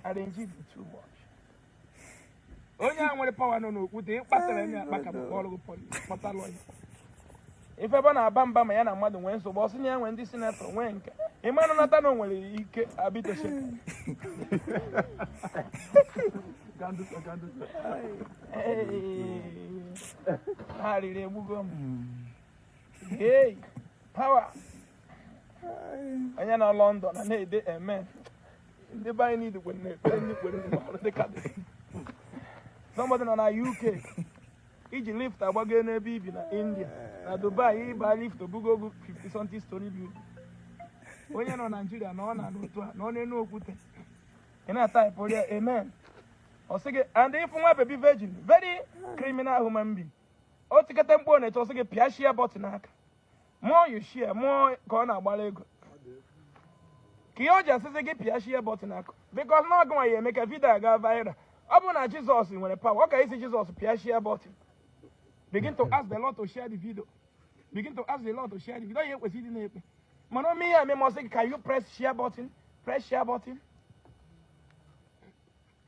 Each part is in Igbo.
arranging too much onye a nwere pawa nọ n'okwute ịkpatara onye akpa ka bụkwa ọrụ kpọta lọya ịfụ ebe ọ na-aba mba ma ya na mmadụ nwee nsogbu ọ sị na ya nwee ndị sinetọ nwee nke ịma na nata na o nwere ike abiteshe arịrị egbugo m hey pawa onye nọ London na na-ede amen ndị be anyị niile kwere na-ekpere ndị kwere ndị mara dị ka dị somebody nọ na uk iji lift agbago n'ebe i bi na india na dubai ịba lift o bugo gị 50 something story building onye nọ naijiria na ọ na-anụ otu a nọ n'enu okwute ị na-ataịpụrụ ya amen ọ sị gị and ịfụ nwa bebi virgin very criminal human being o tikata mkpu ọ na-eti ọ sị gị pịashie bọtịn aka more you share more ka ọ na-agbara ego ka ihe o ji asị gị pịa shie bọtụn aka because na ọ gịnwa ya-eme ka vidio a ga viral ọ bụrụ na jizọs nwere pawa ọ ka ịsị jizọs pịa shie bọtụn begin to ask the lord to share the video begin to ask the lord to share the video ya ekwesị ịdị na-ekpe mana ome ihe eme ma sị gị can you press share button press share button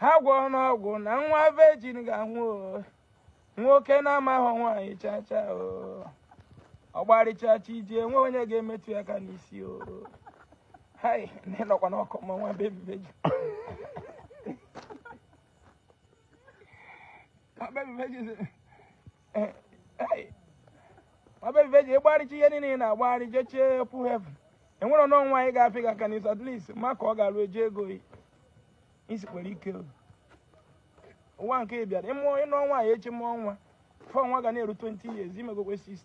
ha gwọọ n'ọgwụ na nwa vejin ga-anwụ o. nwoke na-amaghị nwaanyị chacha o ọ gbarịchacha iji enwe onye ga-emetụ ya aka n'isi o hai na ịnọkwa n'ọkụ ma nwa bebi vejin Nwa bebi vejin sị, bebi vejin ịgbarịcha ihe niile na-agbagharị jechee pụ heaven enwerọnụ nwaanyị ga-afị gị aka n'isi at least maka ọ ga-alụ eji ego isi kwere ike ụwa nke ị bịara ịmụọ ịnụọ nwaanyị echi mụọ nwa before nwa ga na-eru 20 years imegokwe 60